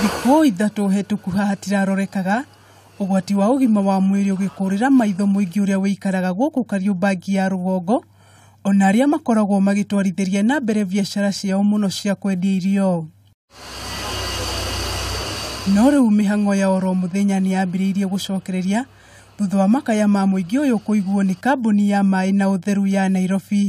Thikũ ithatũ hetũku haha hatirarorekaga ũgwati wa ũgima wa mwĩrĩ ũgĩkũrĩra maitho mũingĩ ũrĩa wĩikaraga gũkũ Kariũmbangi ya rũgongo ona arĩa makoragwo magĩtwarithĩria na mbere biacara ciao mũno cia kwendia irio. No rĩu mĩhang'o ya oro mũthenya nĩ yambĩrĩirie gũcokereria thutha wa makaya ma mũingĩ ũyũ kũiguo nĩ kambuni ya maĩ na ũtheru ya Nairobi.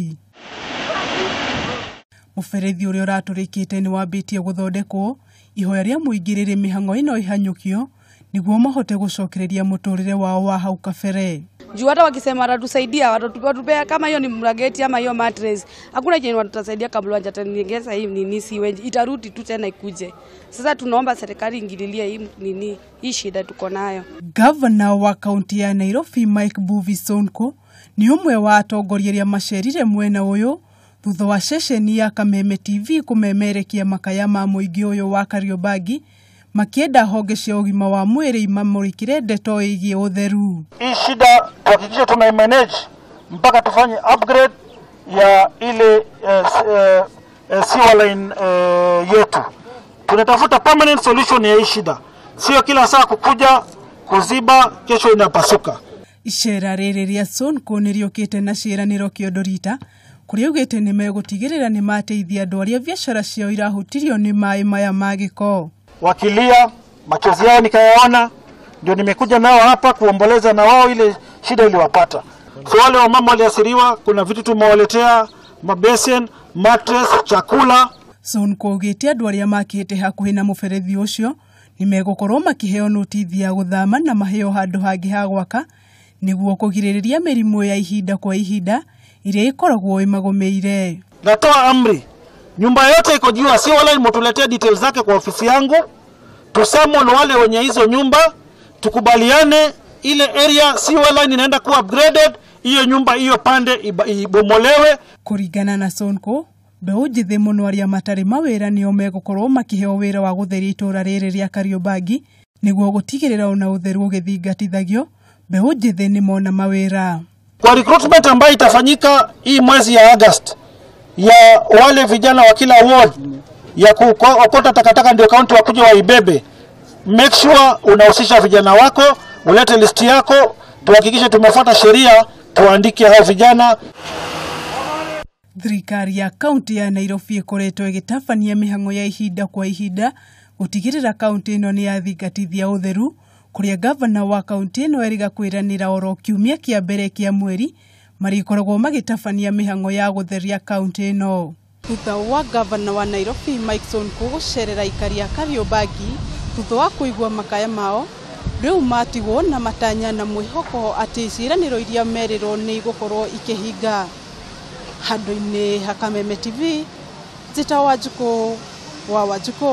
Mũberethi ũrĩa ũratũrĩkĩte nĩ wambĩtie gũthondekwo, ihoya rĩa mũingĩ rĩrĩ mĩhang'o ĩno ĩhanyũkio nĩguo mahote gũcokereria mũtũrĩre wao wa hau kabere. juu hata wakisema watatusaidia watatupa- watupea kama hiyo ni mrageti ama hiyo mattress, hakuna chenye watatusaidia kabla wajatengeneza hii nini siweji, itarudi tu tena ikuje. Sasa tunaomba serikali ingililie hii nini hii shida tuko nayo. Gavana wa kaunti ya Nairobi Mike Mbuvi Sonko nĩ ũmwe wa atongoria arĩa macerire mwena ũyũ thutha wa ceceni ya Kameme TV kũmemerekia makaya ma mũingĩ ũyũ wa Kariobangi makĩenda honge cia ũgima wa mwĩrĩ imamũrĩkĩre ndeto ĩgiĩ ũtheru. Hii shida tuhakikishe tunaimanage mpaka tufanye upgrade ya ile eh, s- eh, eh, sewer line eh, yetu. Tunatafuta permanent solution ya hii shida, sio kila saa kukuja kuziba, kesho inapasuka. Icera rĩrĩ rĩa Sonko nĩrĩũkĩte na ciĩranĩro kĩondo rita kũrĩa augĩte nĩmegũtigĩrĩra nĩmateithia andũ arĩa biacara ciao irahutirio nĩ maĩ maya ma gĩko. wakilia machozi yao nikayaona, ndio nimekuja nao hapa kuomboleza na wao ile shida iliwapata. So wale wamama waliathiriwa, kuna vitu tumewaletea mabesen, mattress, chakula. Sonko augĩte andũ arĩa makĩte hakuhĩ na mũberethi ũcio nĩmegũkorwo makĩheo notithi ya gũthama na maheo handũ hangĩ ha gwaka nĩguo kũgirĩrĩria mĩrimũ ya ihinda kwa ihinda ĩrĩa ĩkoragwo ĩmagũmĩire. Natoa amri nyumba yote iko juu ya sewer line, mtuletee details zake kwa ofisi yangu, tusamon wale wenye hizo nyumba, tukubaliane ile area sewer line inaenda kuwa upgraded, hiyo nyumba hiyo pande iba- ibomolewe. Kũringana na Sonko, Mbeũ njĩthĩ mũno arĩa matarĩ mawĩra nĩo megũkorwo makĩheo wĩra wa gũtheria itũra rĩrĩ rĩa Kariombangi nĩguo gũtigĩrĩra ona ũtheru ũgĩthingatithagio, mbeũ njĩthĩ nĩ mona mawĩra. Kwa recruitment ambayo itafanyika hii mwezi ya August ya wale vijana wa kila ward ya kuokota takataka ndio kaunti wakuja waibebe, make sure unahusisha vijana wako, ulete listi yako, tuhakikishe tumefuata sheria, tuandike hao vijana. Thirikari ya kaunti ya Nairobi ĩkoretwo ĩgĩtabania mĩhang'o ya ihinda kwa ihinda gũtigĩrĩra kaunti ĩno nĩ yathingatithia ũtheru, kũrĩa gavana wa kaunti ĩno Eric Gakwĩranĩra oro kiumia kĩa mbere kĩa mweri marĩkoragwo magĩtabania mĩhang'o ya gũtheria kaunti ĩno. Thutha wa gavana wa Nairobi Mike Sonko gũcerera aikari a Kariombangi thutha wa kũigua makaya mao, rĩu matigwo na matanya na mwĩhoko atĩ ciĩranĩro iria merirwo nĩ igũkorwo ikĩhinga. Handũ-inĩ ha Kameme TV, njĩta Wanjikũ wa Wanjikũ.